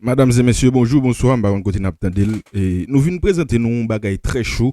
Madam e mesye bonjou, bonswa, m pa konn kote nap tande l, nou vin prezante nou yon bagay trè cho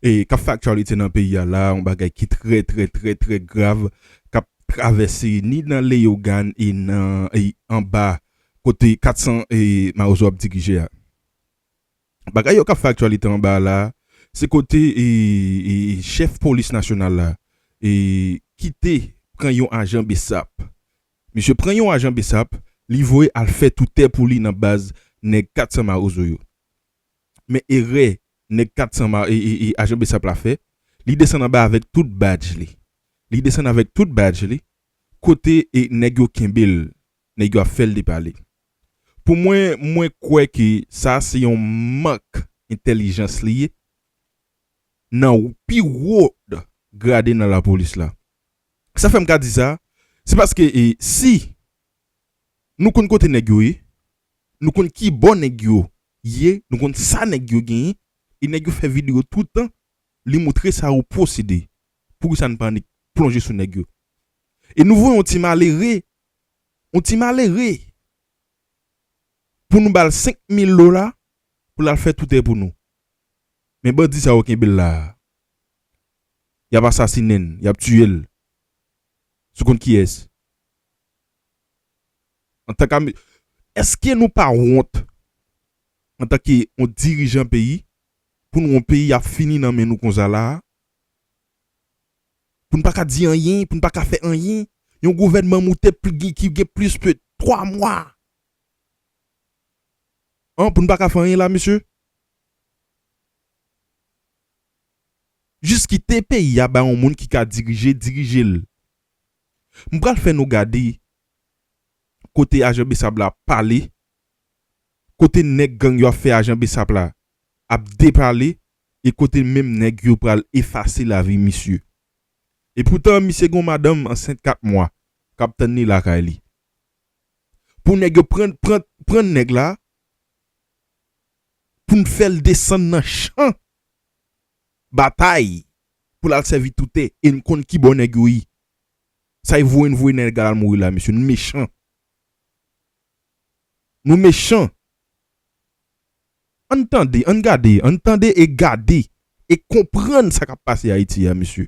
e kap fè aktyalite nan peyi a la, yon bagay ki trè trè trè trè grav kap travèse ni nan Leyogàn e nan anba kote 400 e mawozo ap dirije a. Bagay yo kap fè aktyalite anba a la se kote e chèf polis nasyonal la e kite pran yon ajan bsap Misye pran yon ajan bsap li voye al fè tou tè pou li nan baz nèg 400 mawozo yo. Men erè nèg 400 ma e e e ajan bsap la fè, li desann anba avèk tout badj li. Li desann avèk tout badj li, kote e nèg yo kenbe l, nèg yo ap fè l depale. Pou mwen, mwen kwè ke sa a se yon mank entèlijans li ye nan pi wo grade nan lapolis la. Sa fè m ka di sa, se paske si nou konn kote nèg yo ye, nou konn ki bò nèg yo ye, nou konn sa nèg yo genyen, e nèg yo fè videyo tout tan, li moutre sa yo posede, poukisa n pa annik plonje sou nèg yo? E nou voye yon ti malere, yon ti malere, pou nou ba l 5 mil dola pou l al fè toutè pou nou. Men bandi sa yo kenbe l la a. Yap asasinen l, yap tiye l. Sou kont kiyès? Antank ame Eske nou pa wont antan ke yon dirijan peyi pou nou yon peyi ap fini nan men nou konsa la a? Pou nou pa ka di anyen, pou nou pa ka fè anyen? Yon gouvènman moute ki gen plis ke 3 mwa an pou nou pa ka fè anyen la mesye? Jis kite peyi a ba yon moun ki ka dirije dirije l. M pral fè nou gade kote ajan besap la pale, kote nèg gang yo ap fè ajan besap la ap depale e kote menm nèg yo pral efase lavi misye. Epoutan misye gen yon madanm ansent 4 mwa k ap tann li lakay li. Pou nèg yo pran pran nèg la pou n fè l desann nan chan Batay Pou lal sèvi toute e n konn kibò nèg yo ye sa y voye n voye nèg al mouri la mesye nou mechan Nou mechan Ann tande ann gade ann tande e gade e konprann sa kap pase ayiti a mesye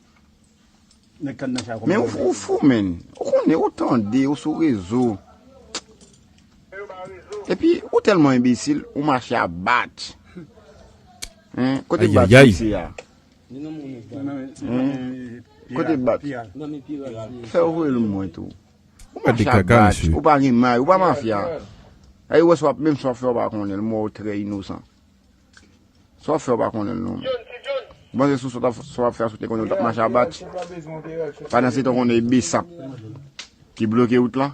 Men ou fou ou fou menn. Ou konnen ou tande ou sou rezo. Epi ou telman enbesil ou mache a batch. Kote batch misye a? Kote batch? Fè ou voye l mwen tou. Ou mache a batch. Ou pa gen may. Ou pa mafya. Aye ou wè sa w ap menm sa w ap fè ou pa konnen l. M wè ou trè inosan. Sa wap fè ou pa konnen l non. Bon se sou sa wap fè a sou te konnen ou tap mache a bat. Pandan se tan konnen e besap ki bloke wout la.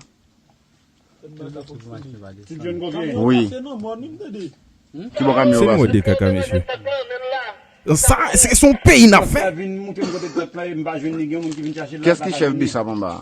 Wi. Ki bo kamyon ou pase. Sa se son peyi nap fè. Kès ki chèf besap anba a.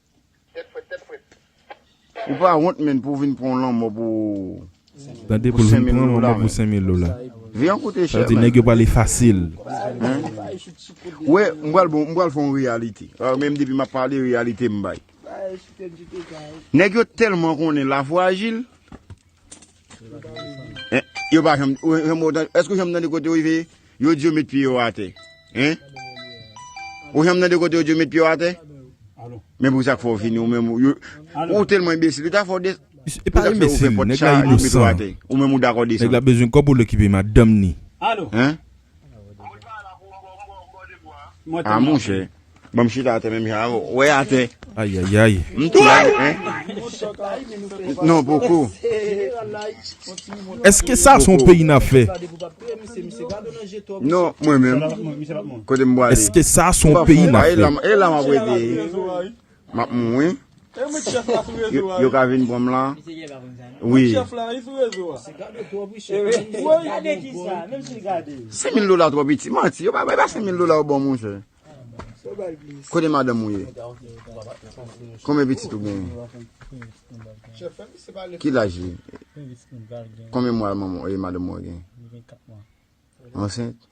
Tèt frèt tèt frèt. Ou pa wont menn pou vin pran lanmò pou Tande pou l vin pran lanmò pou 5000 dola. Vi an koute chè menn. Sa vle di nèg yo pale fasil. Ou wè m pral bon m pral fè yon reyalite. Menm depi m ap pale reyalite m bay. Nèg yo tèlman konnen lafwa ajil. Yo pa janm, eske ou janm tande kote yo rive? Yo di yo met pye yo atè. Hein? Ou janm tande kote yo di yo met pye yo atè? Men pou sa k fò vini ou men yo. Ou telman imbecil, yo ta fò de E pa imbecil, nèg la inosan. Ou men ou dakò de sa. Nèg la bezwen kòb ou l okipe madanm ni. Hein? Ah monchè, bon m chita atè menm jan avè w, wè atè. Ayayay. M tou la nèt men. Non poko. Eske sa son peyi n ap fè? Non mwen menm, kote m pwale. Eske sa son peyi n ap fè? E la m ap rete. Map mouri. Yo ka vin pranm la wi. Sen mil dola tro piti. Manti yo pa bay pa sen mil dola yo baw monche. Kote madanm ou ye. Konbyen pitit ou gen. Ki laj li. Konbyen mwa madanm ou gen. Ansent.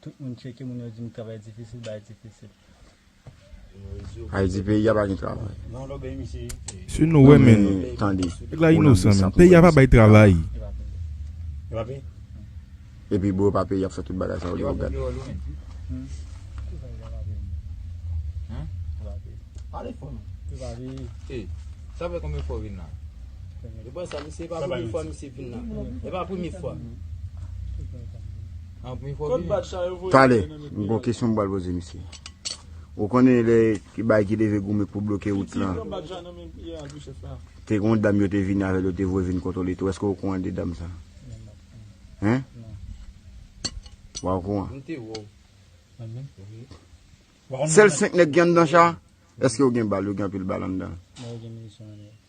Tout moun tcheke moun yo dim travay difisil bay difisil. Haiti peyi a pa gen travay. Sou nou wè men nèg la inosan men peyi a pa bay travay. Epi bro pa peyi ap fè tout bagay sa yo lèw gad. Kot bag sa yo voye Tale, voye nan men m gon kesyon m pral poze misye. Ou konnen lè bay ki leve goumen pou bloke wout Piti lan, pran bag sa nan men piya a tou chèf la. te gon dam yo te vini avè l yo te voye vin kontwole tou. Èske w okouran de dam sa? Hein? Wa okouran? M te wè w. Mwen menm? Wi. Sèl 5 nèg ki anndan cha? Èske yo gen bal? Yo gen anpil bal anndan? Mwen wè gen minisyon anndan.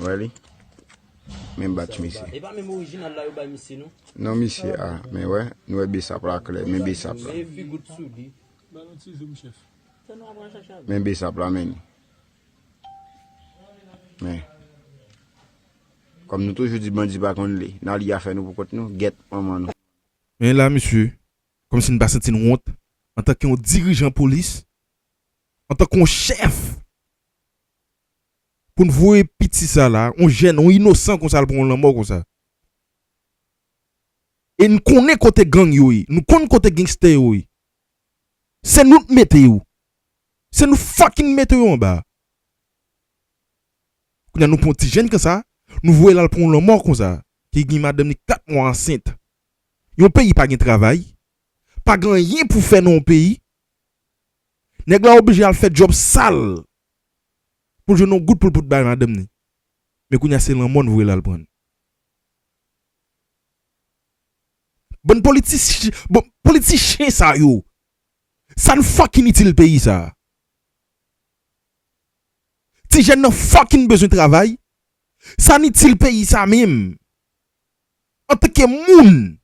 Wè li? Menm batch mesye. E pa menm orijinal la yo bay misye non? Non misye a, men wè, nou wè besap la klè, men besap la. Men figu tsoudi. Ban nou ti zoum chèf. Sa nou ap pran chacha. Men besap la men. Men. Kom nou toujou di bandi pa konn li, nan li a fè nou pou kont nou, gèt manman nou. Men la misye, komsi n pa santi n wont antanke yon dirijan polis. Antanke yon chèf pou n voye piti sa la, yon jèn, yon inosan konsa al pran yon lanmò konsa. E n konnen kote gang yo ye, nou konn kote gangster yo ye. Se nou t mete yo. Se nou fucking mete yo anba a. Kounye a nou pran yon ti jèn konsa, nou voye l al pran yon lanmò konsa, ki gen madanm li 4 mwa ansent. Yon peyi pa gen travay, pa gen anyen pou fè nan yon peyi, Nèg la oblije al fè djòb sal pou l jwenn yon goud pou l pot bay madanm ni. Men kounye a se lanmò n voye l al pran. Bann politichi, bon, politichen sa yo, sa n fucking itil peyi sa a? Ti jèn nan fucking bezwen travay, sa n itil peyi sa menm? Antanke moun,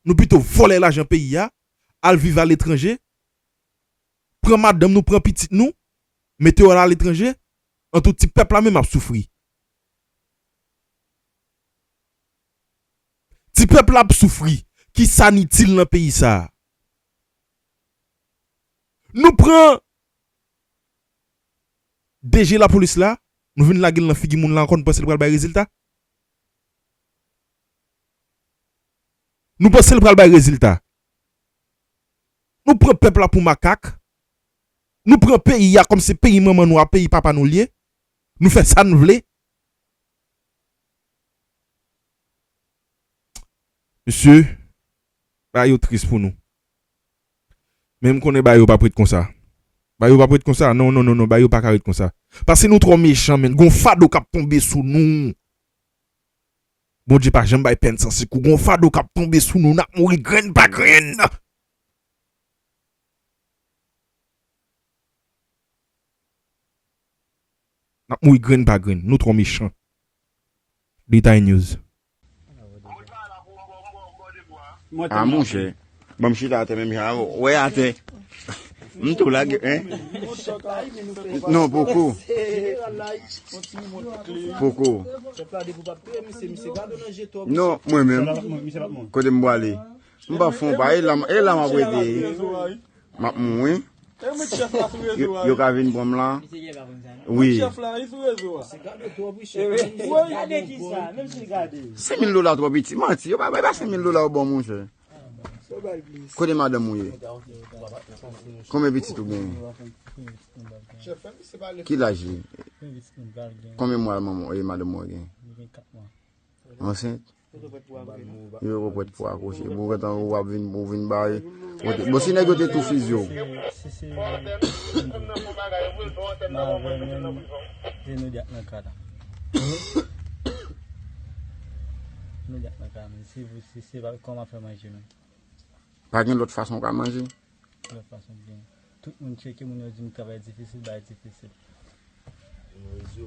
Nou pito vòlè lajan peyi a, al viv aletranje, pran madanm nou, pran pitit nou, mete yo al aletranje, antou ti pèp la menm ap soufri. Ti pèp la ap soufri, ki sa n itil nan peyi sa a? Nou pran DG lapolis la, nou vin lage l nan figi moun la ankò, nou panse l pral bay rezilta? Nou panse l pral bay rezilta? Nou pran pèp la pou makak? Nou pran peyi a kòm se peyi manman nou a peyi papa nou l ye? Nou fè sa n vle? Mesye, bagay yo tris pou nou. Men m konnen bagay yo p ap ret konsa. Bagay yo p ap ret konsa? Non, non, non, non, bagay yo pa ka ret konsa. Pase nou twò mechan menn. Gen yon fado k ap tonbe sou nou. Bondye pa janm bay pèn san sekou gon fado kap tonbe sou nou nap mouri grenn pa grenn. Nap mouri grenn pa grenn nou trò mechan. Detay News. Mwen telman ri. Bon m chita atè menm jan avè w. Wè atè. M tou la gè. Non poko. Poko. Non mwen menm. Kote m bwale. M pa fon pa. E lam ap rete. M ap moun wi. Yo ka vin pran m la. Wi. Senmil dola twò piti. Manti. Yo pa bay pa senmil dola ou ban moun chè. Kote madanm ou ye? Konbyen pitit ou genyen? Ki laj li? Konbyen mwa manman ou e madanm ou genyen? Ansent? Yo yo pwet pou akouche. Bon gen tan ou ap vin pou vin bay. Bon si nèg yo te tou fizye ou. Pa gen lòt fason ou ka manje?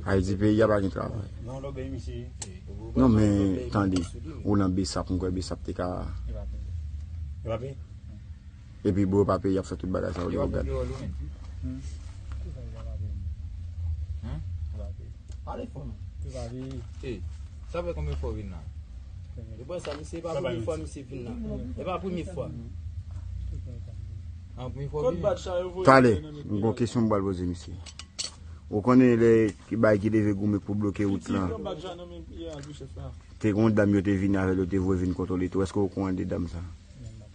Ayiti peyi a pa gen travay? Non men, tande, ou nan Besap, mwen kwè Besap te ka... Epi bro pa peye yap fè tout bagay sa yo lè ou gad. Tale m gon kesyon m bal poze misye. Ou konnen lè ki bay ki leve goumen pou bloke wout lan. Te gon dam yo te vini avèl yo te vwe vin kontwole tou. Eske ou kouran de dam sa?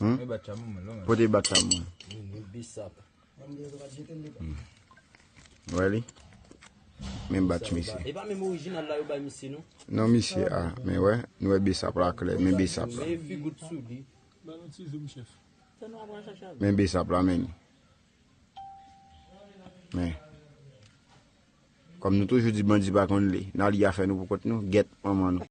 Hum? Pote bat chabon mwen lò. Pote bat chabon mwen. Mwen bisap. Wè li? Men bat misye. E pa men orijinal la yo bay misye nou? Non misye a. Men wè? Nou wè bisap la klè. Men bisap la. Men figout sou li. Ban nou ti zoom chef. Men bisap la men. Men. Kom nou toujou di bandi pa konn li. Nan li a fè nou pou kont nou. Get manman nou.